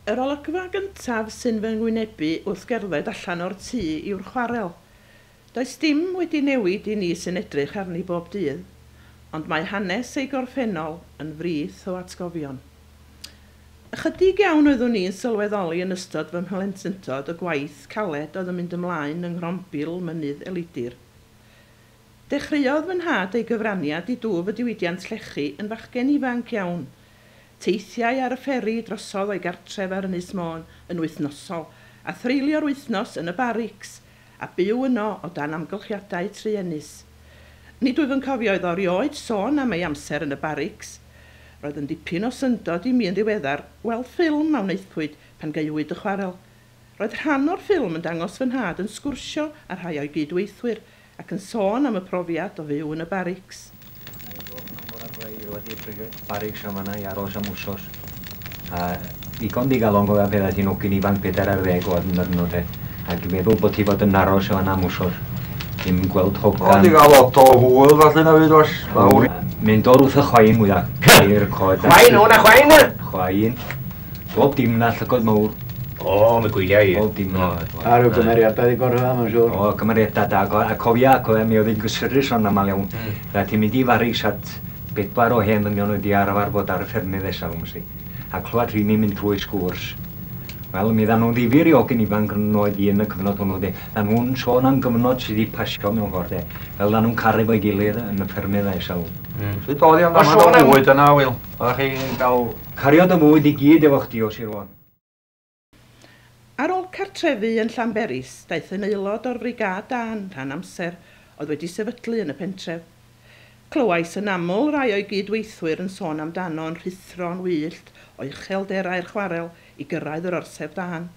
Yr olygfa gyntaf sy'n fy ngwynebu wrth gerdded allan o'r tŷ yw'r chwarel. Does dim wedi newid i ni sy'n edrych arni bob dydd, ond mae hanes ei gorffennol yn frith o atgofion. Ychydig iawn oeddwn i'n sylweddoli yn ystod fy mhlentyndod y gwaith caled oedd yn mynd ymlaen yng Nghrombil Mynydd Elidir. Dechreuodd fy nhad ei gyfraniad i dwf y diwydiant llechi yn fachgen ifanc iawn. Teithiai ar y fferi drosodd o'i gartref ar Ynys Môn yn wythnosol, a threulio'r wythnos yn y barics a byw yno o dan amgylchiadau truenus. Nid wyf yn cofio iddo erioed sôn am ei amser yn y barics. Roedd yn ddipyn o syndod i mi yn ddiweddar weld ffilm a wnaethpwyd pan gaewyd y chwarel. Roedd rhan o'r ffilm yn dangos fy nhad yn sgwrsio â rhai o'i gyd-weithwyr ac yn sôn am y profiad o fyw yn y barics. Barrug Siamanau ar ôl siam wsos. A ddigon digalon o pethau sy'n ogyn ifanc bedair ar ddeg oed yn dod yn ôl Ac i meddwl bod ti fod yn aros yma am wsos. Dim gweld hogan. Ond i gael lot o hwyl falle na fyd os. Mae'n dod wrth y chwain mwyaf. Ceir coed. Chwain, o na chwain! Chwain. Bob dim na llygod mowr. O, mi gwylia i. Bob dim na. A rhyw gymeriadau di gorau yma, siwr. O, cymeriadau da. A cofia, cofia, mi oedd hi'n gysurus o'n aml iawn. Mm. Fe ti'n mynd i Faris at bedwar o hen ddynion oedd di arfer bod ar y ffermydd nesaf, ymsi. A clywed rhini mynd trwy sgwrs. Wel, mi dda nhw'n ddifyr i ogyn ifanc yn oed i yn y cyfnod hwnnw, de. Dda nhw'n sôn am gyfnod sydd wedi pasio mewn ffordd, de. Fel dda nhw'n caru fo'i gilydd yn y ffermydd nesaf. Mm. Sut oedd hi am dda nhw'n oed yna, Wil? Oeddech chi'n dal cariad o fwyd i gyd efo chdi o Sir Fôn? Ar ôl cartrefu yn Llanberis, daeth yn aelod o'r Frigâd Dân rhan amser oedd wedi sefydlu yn y pentref. Clywais yn aml rai o'i gyd-weithwyr yn sôn amdano'n rhuthro'n wyllt o uchelderau'r chwarel i gyrraedd yr Orsedd Dân.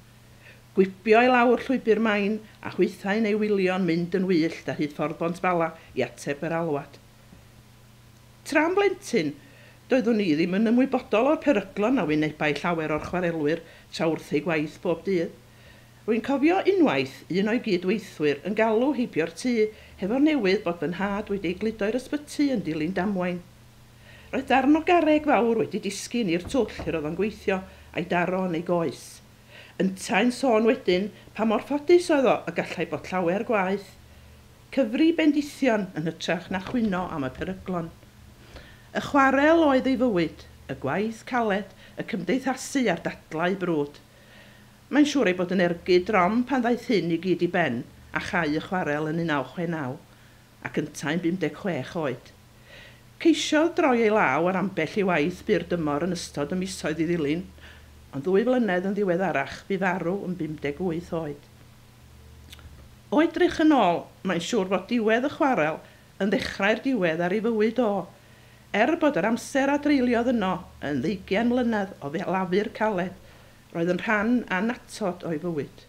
Gwibio i lawr llwybr Main a hwythau'n ei wylio'n mynd yn wyllt ar hyd Ffordd Bont Bala i ateb yr alwad. Tra'n blentyn, doeddwn i ddim yn ymwybodol o'r peryglon a wynebai llawer o'r chwarelwyr tra wrth eu gwaith bob dydd. Rwy'n cofio unwaith un o'i gyd-weithwyr yn galw heibio'r tŷ hefo'r newydd bod fy nhad wedi ei gludo i'r ysbyty yn dilyn damwain. Roedd darn o garreg fawr wedi disgyn i'r twll lle roedd o'n gweithio a'i daro yn ei goes. Yntau'n sôn wedyn pa mor ffodus oedd o y gallai bod llawer gwaeth. Cyfri bendithion yn hytrach na chwyno am y peryglon. Y chwarel oedd ei fywyd, y gwaith caled, y cymdeithasu a'r dadlau brwd. Mae'n siŵr ei bod yn ergyd drom pan ddaeth hyn i gyd i ben a chau y chwarel yn 1969, ac yntau'n 56 oed. Ceisiodd droi ei law ar ambell i waith byr dymor yn ystod y misoedd i ddilyn, ond ddwy flynedd yn ddiweddarach bu farw yn 58 oed. O edrych yn ôl, mae'n siŵr fod diwedd y chwarel yn ddechrau'r diwedd ar ei fywyd o. Er bod yr amser a dreuliodd yno yn ddeugain mlynedd o ddelafu'r caled, roedd yn rhan annatod o'i fywyd.